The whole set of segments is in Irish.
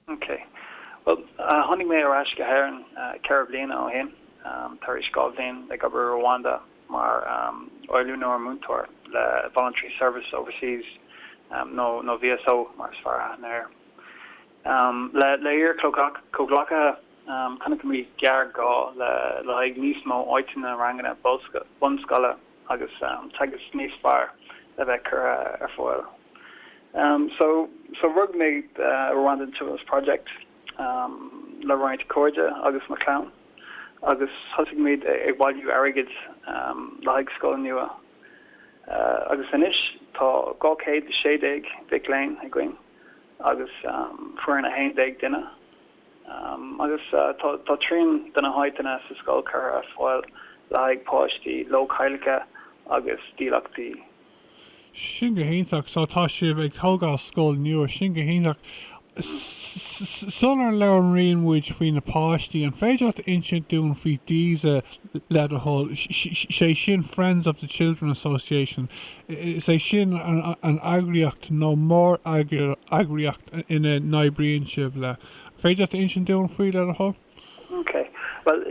Ok. Bhuel, tháinig mé ar ais go hÉirinn ceithre bliana ó shin tar éis dhá bhliain ag obair i Rwanda mar oiliúnóir múinteoirí le Voluntary Service Overseas nó VSO mar is fearr aithne air. Le hiar-chomhghleacaithe, chonaic mé gearrghá le haghaidh níos mó áiteanna i ranganna bunscoile, agus teagasc níos fearr a bheith curtha ar fáil so so rug muid Rwandan Children's Project um le roinnt cairde agus mo chlann agus thosaigh muid ag bailiú airgid um le haghaidh scoil nua uh, agus anois tá 216 mhic léinn againn agus um, foireann 11 duine. agus tá trian de na háiteanna sa scoil curtha ar fáil le haghaidh páistí leochaileacha agus dílleachtaí. Sin go hiontach. So tá sibh ag tógáil scoil nua. Sin go hiontach. Sular labhraíonn muid faoi na páistí, an féidir leat a insint dúinn faoi Diza, le do thoil? Sé sin Friends of the Children Association. Is é sin an eagraíocht nó mór-eagraíocht ina n-oibríonn sibh le. féidir leat a insint dúinn faoi le do thoil? Ok. Bhuel,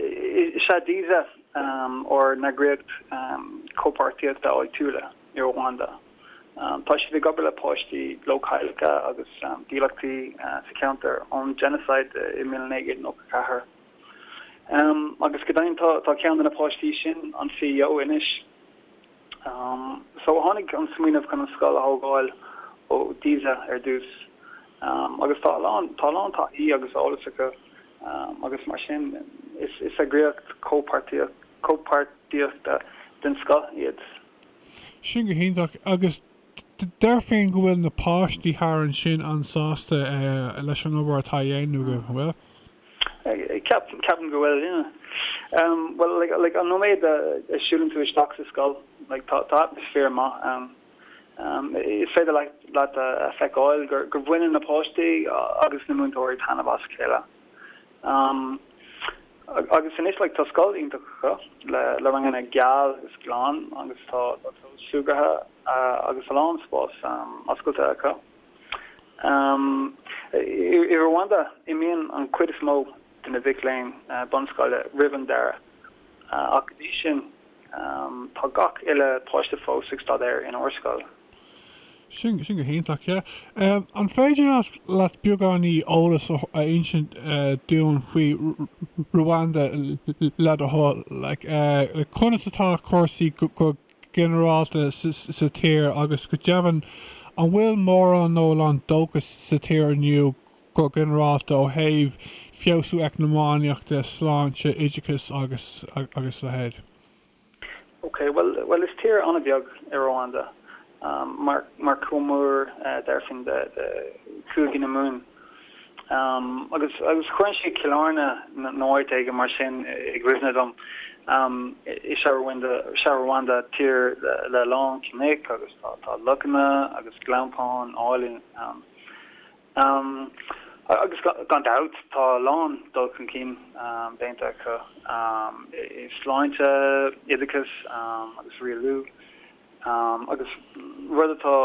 is ea Diza ár n-eagraíocht chomhpháirtíochta áitiúla i Rwanda. Tá siad ag obair le páistí leochaileacha agus dílleachtaí sa cheantar ón genocide i 1994. Agus go deimhin tá ceann de na páistí sin, an C.E.O. anois. So, tháinig an smaoineamh chun an scoil a thógáil ó Diza ar dtús agus tá a lán taithí agus eolas acu agus mar sin is eagraíocht chomhpháirtíochta den scoth iad. Sin go hiontach agus Déarfainn go bhfuil na páistí thar ansin an-sásta leis an obair atá á dhéanamh agaibh, an bhfuil? Ceapaim, ceapaim go bhfuil, yeah. Bhuel, like, like an nóiméad a siúlann tú isteach sa scoil, like, tá, tá atmaisféar maith ann. Is féidir leat, leat a feiceáil gur, gur bhaineann na páistí agus na múinteoirí taitneamh as a chéile. Agus anois tá scoil iontach acu le ranganna geal is glan agus tá clós súgartha agus a lán spás oscailte acu. I Rwanda imíonn an chuid is mó de na mhic léinn bunscoile roimh an deireadh ach in ainneoin sin Tá gach uile páiste fós ag staidéar in ár scoil. Sin go hiontach, yeah. An féidir leat beagáinín eolas a insint dúinn faoi Rwanda le do thoil, like conas atá cúrsaí go ginearálta sa tír agus go deimhin an bhfuil mórán nó a lán dóchas sa tír inniu Go ginearálta, ó thaobh feabhsú eacnamaíoch de, sláinte, oideachas agus a leithéid. Ok, bhuel, bhuel, is tír an-bheag í Ruanda, mar chomh mór, déarfainn, le Cúige na Mumhan. Agus, agus chuireann sé Cill Airne nó áit éigin mar sin i gcuimhne dom. Is ea Ruanda, sea Ruanda, tír le a lán cnoic agus tá tá lochanna agus gleanntáin áille ann. Um agus gan dabht tá a lán dul chun cinn um déanta acu um i sláinte, oideachas um agus rialú um agus rud atá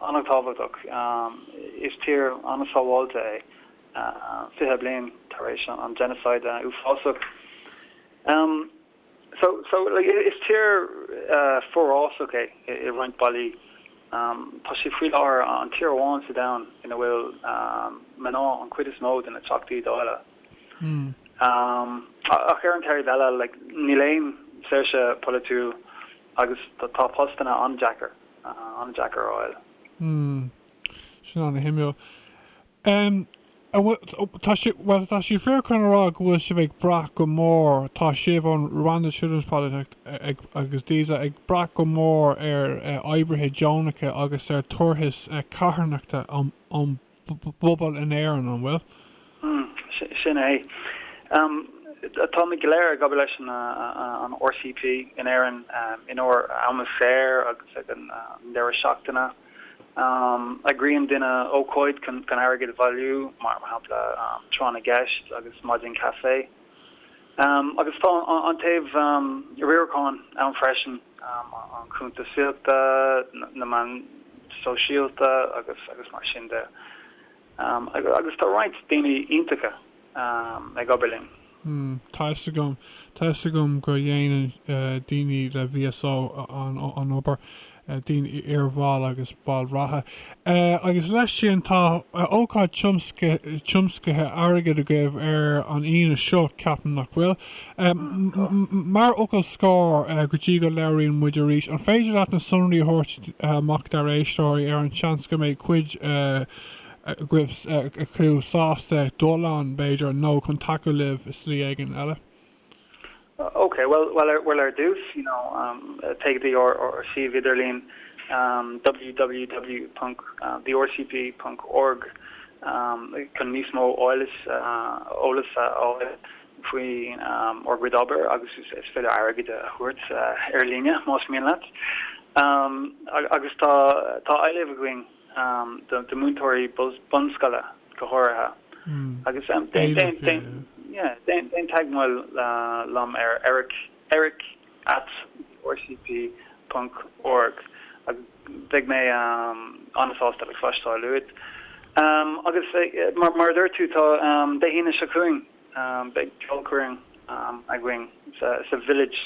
an-tábhachtach um is tír an-sábháilte é uh fiche bliain tar éis an genocide uafásach. Um. So, is tír forásach é i roinnt bealaí. Tá sé faoi láthair an tír amháin sa domhan ina bhfuil mná an chuid is mó de na teachtaí dáile. Ach ar an taobh eile, níl aon saoirse polaitiúil agus tá postanna an-deacair a fháil. An bhfuil, tá sé, bhuel, tá sé fíor chun a rá go bhfuil sibh ag brath go mór, tá sibh, an Rwanda Children's Project ag, agus daoibhse, ag brath go mór ar oibrithe deonacha agus ar tabhartais carthanachta ón bpobal in Éirinn, an bhfuil? Mm, sin é. Táimid go léir ag obair leis an RCP in Éirinn in ár am saor agus ag an deireadh seachtaine. Eagraíonn daoine ócáid chun airgead a bhailiú, mar shampla tráth na gceist agus maidin caife, agus tá an taobh riaracháin ann freisin, an chuntasaíocht, na meáin sóisialta agus mar sin de, agus tá roinnt daoine iontacha ag obair linn. Hmm, tá 'fhios agam. Tá 'fhios agam go dhéanann daoine le VSO an obair, daoine iarbhaill agus baill reatha. Agus leis sin, tá ócáid tiomscaithe airgid agaibh ar an Aoine seo, ceapaim, nach bhfuil? Mar fhocal scoir, go dtí go labhraíonn muid arís, an féidir leat na sonraí a thabhairt amach dár éisteoirí ar an seans go mbeidh cuid agaibh acu sásta dul ann, b'fhéidir, nó chun tacú libh i slí éigin eile? OK, bhuel ar dtús, you know, téigh go dtí ár suíomh idirlín, www.thercp.org, chun níos mó eolais eolas a fháil faoi ár gcuid obair agus is féidir airgead a thabhairt ar líne más mian leat. Agus tá tá éileamh againn. do mhúinteoirí bunscoile go háirithe agus déan teagmháil liom ar eric at rcp ponc org agus beidh mé an-sásta le cloisteáil uait. Agus mar a dúirt tú, tá Dé hAoine seo chugainn, beidh ceolchoirm againn sa Village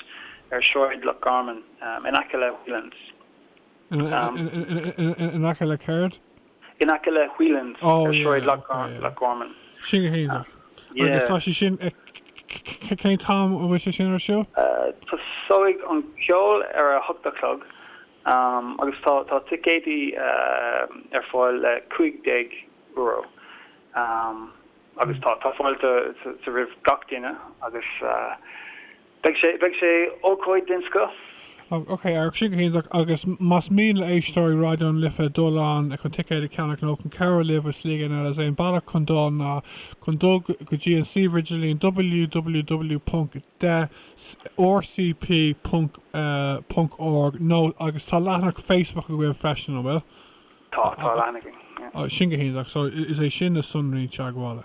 ar Shráid Loch Garman in aice le Whelan's. In aice le céard? In aice le Whelan's ar Shráid Loch Garman. Sin go hiontach. Agus tá sé sin, cén t-am atá sé sin ar siúl? Tosóidh an ceol ar a hocht a chlog agus tá ticéidí ar fáil le cúig déag euro agus tá fáilte roimh gach duine agus. Beidh sé, beidh sé ócáid den scoth. Ó, ok, ar, sin go hiontach, agus más mian le héisteoirí Raidió na Life dul ann chun ticéid a cheannach nó chun cabhrú libh i slí éigin eile is é an bealach chun dul ná chun dul go dtí an suíomh idirlíon www.ecrcp.org nó agus tá leathanach Facebook agaibh freisin, an bhfuil? Tá, tá leathanach againn, yeah. Ó, sin go hiontach, so is é sin na sonraí teagmhála.